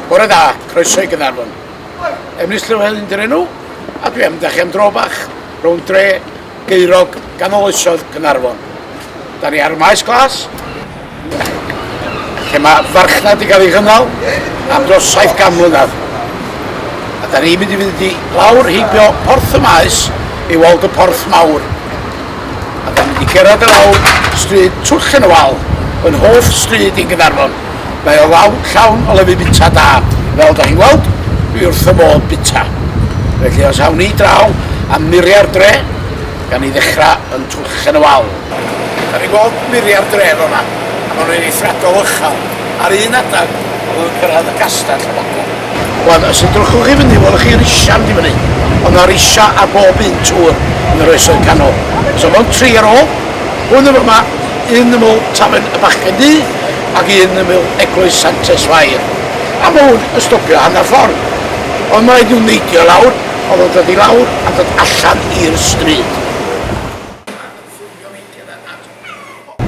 Bore da, croeso i Gynarfon. Emrys Llywel yn dyn enw, a dwi am da chi am dro bach, rhwng dre, geirog, ganol oesodd Gynarfon. Da ni ar y maes glas, lle mae farchnad wedi cael ei gynnal am dros 70 mlynedd. A da ni'n mynd i fynd i lawr heibio porth y maes i weld y porth mawr. A da ni'n mynd i gerad y lawr stryd Twll yn y Wal, yn hoff stryd i'n Gynarfon. Mae o lawr llawn o lefydd bita da, fel da chi'n gweld, dwi wrth fy modd bita. Felly os awn ni draw a muriau'r dre, gan ni ddechrau yn Twllchen y Wal. Da ni'n gweld muriau'r dre fel yma, a maen nhw'n eithriadol uchel. Ar un adeg, maen nhw'n cyrraedd y castell y bobl. Wel, os edrychwch i fyny, welwch chi risiau yn mynd i fyny. Ond mae risiau ar bob un tŵr yn yr Oesoedd Canol. So mewn tri ar ôl, hwn yn fama, un yml tafarn y Bachgen Du, ac un yn ymyl Eglwys Santes Fair. Am wn yn stopio hanner ffordd, ond mae rhaid nhw neidio i lawr, oedd o'n dod i lawr a dod allan i'r stryd.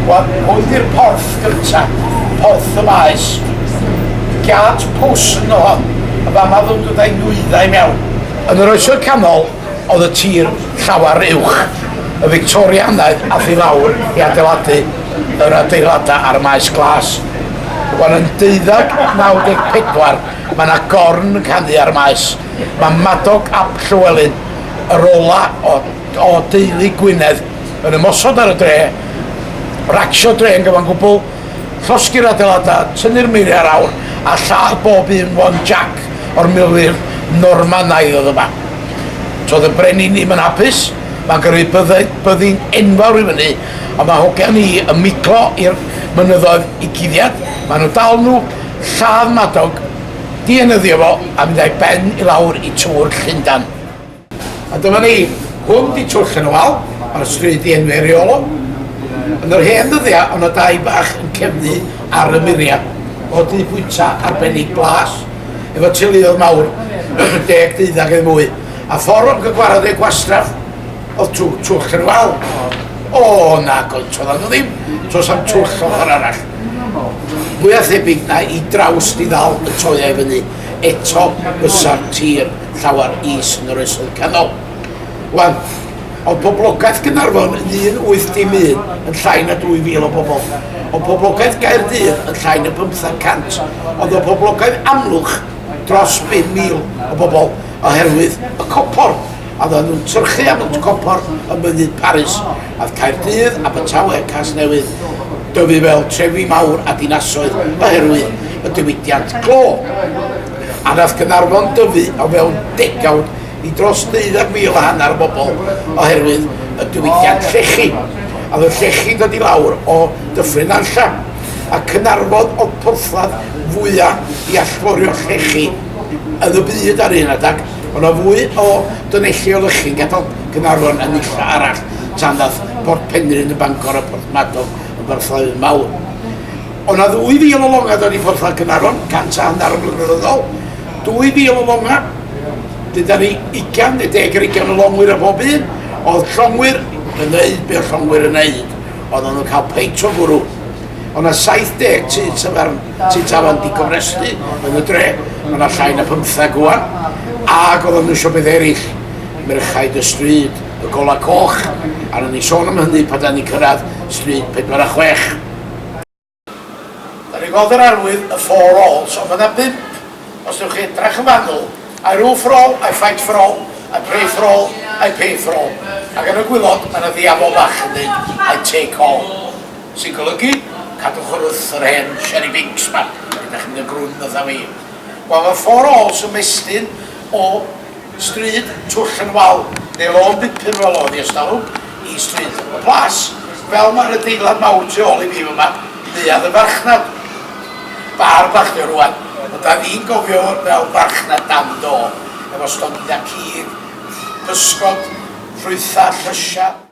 Wel, hwn di'r porth gynta, porth y maes. Giât pwll ynddo hon, yn fama o'dd o'n dod a'i nwyddau mewn. Yn yr Oesoedd Canol, oedd y tir llawer uwch. Y Fictorianaidd ath i lawr i adeiladu yr adeiladau a'r Maes Glas. Wan yn 1294 mae yna gorn yn canu ar y maes. Mae Madog ap Llywelyn, yr ola o, o deulu Gwynedd, yn ymosod ar y dre, racsio dre yn gyfan gwbl, Llosgi'r adeiladau, tynnu'r meiriau ar awr a lladd bob un one Jac o'r milwyr Normanaidd oedd yma. Toedd y brenin i'm yn hapus, mae'n gyrru byddai, byddin enfawr i fyny, ond mae hogia ni yn miglo i'r mynyddoedd i guddiad, maen nhw dal nhw, lladd Madog, dienyddio fo a mynd a'i ben i lawr i tŵr Llundan. A dyma ni, hwn di twll yn y wal, mae'r stryd di enw eriolo. Yn yr hen ddyddiau, ond y dau bach yn cefnu ar y muriau, o dŷ bwyta arbennig blas, efo teuluodd mawr, deg deuddag neu mwy, a ffordd o'n gygwarad ei gwastraff, oedd tw, twll yn y wal. O, na, goet, oedd nhw ddim, tos am twll o ochr arall. Mwy a thebyg na i draws di ddal y toiau fyny, eto fysa'r tir llawer is yn yr Oesoedd Canol. Wan, oedd poblogaeth Gaernarfon yn un wyth dim un yn llai na 2,000 o bobl. Oedd poblogaeth Gaerdydd yn llai na bymtheg cant. Oedd y poblogaeth Amlwch dros 5,000 o bobl oherwydd y copor, a oedden nhw'n tyrchu am y copor ym Mynydd Paris. Oedd Caerdydd, Abertawe, Casnewydd, Dyfi Vale, trefi mawr a dinasoedd oherwydd y diwydiant glo. a wnaeth Caernarfon dyfu o fewn degawd i dros deuddag mil a hanner o bobl oherwydd y diwydiant llechi, a oedd y llechi'n dod i lawr o Dyffryn Nantlle, a Caernarfon oedd porthladd fwya i allforio llechi yn y byd ar un adag, o' 'na fwy o dunelli o lychi'n gadal Caernarfon yn nunlle arall tan ddaeth Port Penrhyn yn Bangor a Porthmadog yn borthladdoedd mawr. O' 'na ddwy fil o longa' 'da ni Porthladd Caernarfon, cant a hannar o flynyddoedd yn ôl, dwy fil o longa', wedyn 'da ni ugain ne' deg ar ugain o longwyr ar bob un, o'dd llongwyr yn neud be' o'dd llongwyr yn neud, oeddan nhw'n cael peint o gwrw. O' 'na 70 tŷ tafarn, tŷ tafarn digofrestu yn y dre, ma' 'na llai na pymtheg ŵan, ac oeddan nhw isio beth eraill, merchaid y stryd, y golau coch, a ro'n i'n sôn am hynny pan 'da ni'n cyrraedd stryd pedwar a chwech. Yr un modd yr arwydd y four alls ond mae yna bump os newch chi edrach yn fanwl, I rule for all, I fight for all, I pray for all, I pay for all ac yn y gwilod mae yna ddiafol fach yn deud I take all sy'n golygu cadwch yr wrth yr hen Sherry Binks ma, ydach chi'n mynd yn grwn fatha fi. Wel mae four alls yn mestyn o Stryd, Twll yn wal, neu lôn bupur fel oedd hi ers talwm, i Stryd y Plas, fel mae'r adeilad mawr tu ôl i fi fyma, neuadd y farchnad. Bar bach 'di o rŵan, ond da ni'n gofio fo fel farchnad dan do, efo stondinau cig, pysgod, ffrwythau, llysiau.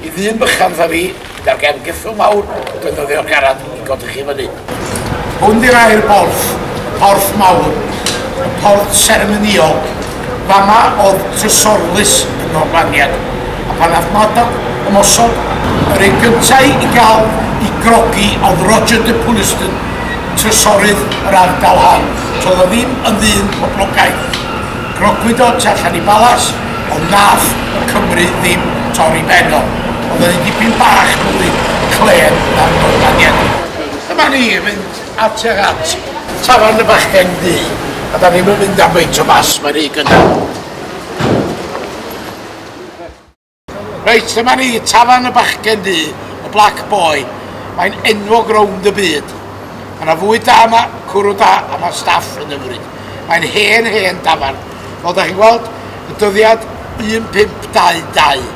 Y ddyn bychan 'tha fi, gyda'r gefn geffyl mawr, yn defnyddio'r garad i godi chi fyny. Hwn 'di'r air borth, porth mawr, porth seremonïol. Fama oedd trysorlys y Normaniaid, a phan ath Madog ymosod, yr un gyntaf i gael i grogi oedd Roger de Puleston, trysorydd yr ardal hon. Toedd o ddim yn ddyn poblogaidd. Grogwyd o tu allan i Balas, ond nath y Cymry ddim torri ben o. O'dd o'n un dipyn bach mwy clên na'r Normaniaid. Dyma ni yn mynd attuag at tafarn y bachgen ddu, a 'da ni'm yn mynd am faint o fas ma' rhy gynnar. Reit, dyma ni, tafarn y bachgen du, y Black Boy. Mae'n enwog rownd y byd. Mae yna fwyd da yma, cwrw da, a mae staff yn ymryd. Mae'n hen, hen dafarn. Fel da chi'n gweld, y dyddiad 1522.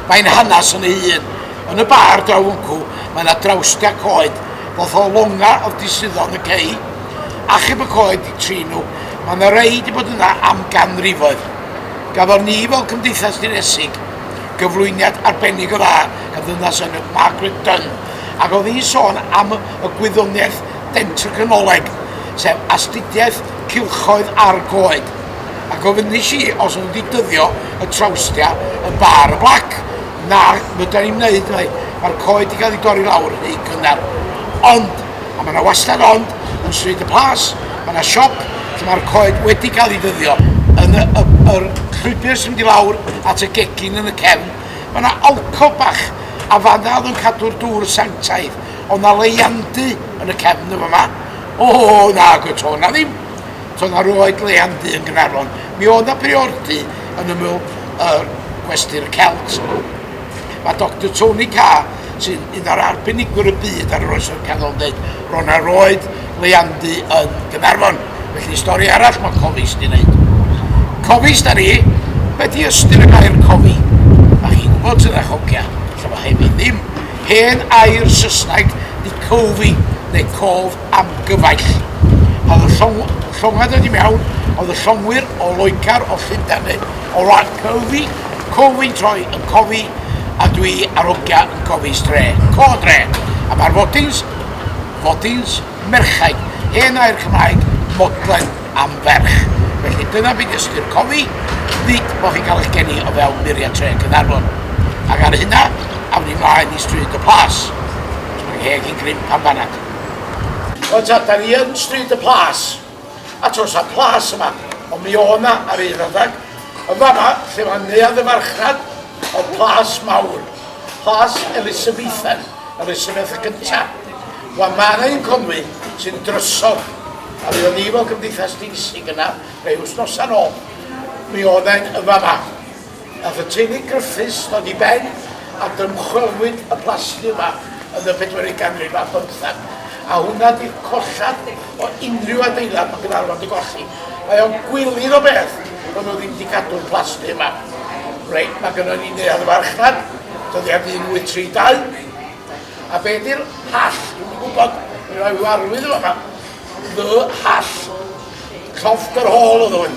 Mae'n hanes yn ei hun. Yn y bar draw wncw, mae yna drawstiau coed, fath o longa oedd di suddo yn y cei. Achub y coed di trin nhw. Mae yna rei di bod yna am ganrifoedd. Gafon ni fel Cymdeithas Ddinesig gyflwyniad arbennig o dda gan ddynas enw Margaret Dunn ac oedd hi'n sôn am y gwyddoniaeth dentricanoleg, sef astudiaeth cylchoedd a'r goed, a gofynnais i os o'n nhw wedi dyddio y trawstia yn bar y blac. Na, fedra i'm wneud mai, mae'r coed wedi cael eu dorri lawr yn eu cynnar. Ond! a mae 'na wastad ond yn Stryd y Plas mae 'na siop lle mae'r coed wedi cael ei ddyddio yn y, y, yr llwybr sy'n mynd i lawr at y gegin yn y cefn mae 'na alcov bach a fanna oedd yn cadw'r dŵr sanctaidd oedd 'na leiandy yn y cefn yn fama o na gwyd to 'na ddim to 'na roed leiandy yn Gaernarfon mi oedd 'na briordy yn ymyl yr gwesty'r Celt Mae Doctor Tony Carr, sy'n un o'r arbenigwyr y byd ar yr Oesoedd Canol yn dweud, ro'n ar oed leiandu yn Gaernarfon. Felly, stori arall mae Cofist i wneud. Cofist ar i, be di ystyr y gair cofi? Mae chi'n gwybod sydd â chogia, lle mae hefyd ddim. Hen air Saesneg di cofi, neu cof, am gyfaill. Oedd y llong- llongau dod i mewn, oedd y llongwyr o Loegr, o Llundain neu o wlad Cyfi, Cofyn troi yn cofi, a dwi ar hogia yn cofi stre, co dre. A mae'r fodins, fodins, merchain, hen air Cymraeg, modlen am ferch. Felly dyna beth ystyr cofi, nid bod chi'n cael eich geni o fewn muriau tre Caernarfon. Ac ar hynna, awn ni mlaen i Stryd y Plas. Mae ngheg i'n gryn pan fanat. Wel ta, da ni yn Stryd y Plas, a tos a plas yma, ond mi o' na ar un adeg, yn fanna lle mae neuadd y farchnad, o plas mawr, plas Elisabeithen, Elisabeth y Cynta. Wel mae yna un Conwy sy'n drysog, a mi o'n ni fel Cymdeithas Deisig yna, rhai wsnosa'n ôl, mi oedd e'n yn fanna. Nath y teulu Griffiths ddod i ben a dymchwelwyd y plasty yma yn y bedwerydd ganrif ar bymthag, a hwnna di'r collad o unrhyw adeilad ma Gaernarfon di golli. Mae o'n gwilydd o beth bo nhw ddim di cadw'r plasty yma. Reit, ma gynno ni neuadd y farchnad, dyddiad 1832, a be di'r hall, dwi'm yn gwybod, mi rai ryw arwydd yn fama, The Hall, llofft yr hôl oedd hwn,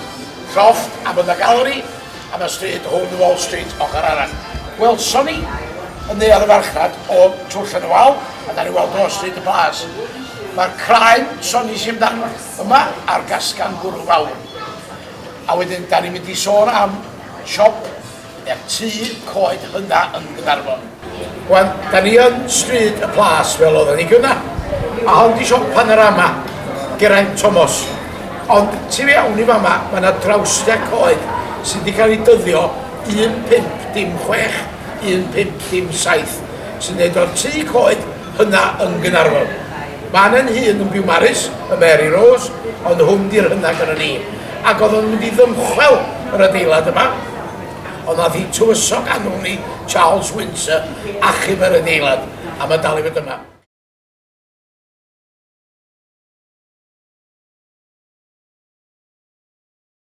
llofft a bod na gallery, am y stryd rhwng Wall Street ochr arall. Welson ni, yn neuadd y farchnad, o twll yn y wal, a da ni weld Wall Street yn blas. Mae'r craen sonis i amdano yma ar gasgan bwrw fawr. A wedyn, da ni'n mynd i sôn am siop neu'r tŷ coed hynna yn Gaernarfon. Wan, da ni yn Stryd y Plas fel oeddan ni gynna. A hon di siop Panorama, Geraint Tomos. Ond tu fewn i fama, mae yna drawstia coed sydd wedi cael ei dyddio 1506, 1507, sy'n neud o'r tŷ coed hynna yn Gaernarfon. Mae Anne'n hun yn byw Maris, y Mary Rose, ond hwn di'r hynna gynna ni. Ac oedd o'n mynd i ddymchwel yr adeilad yma. Ond aeth hi'n tywysog a wnwn ni Charles Windsor achub yr adeilad, a mae dal i fod yma.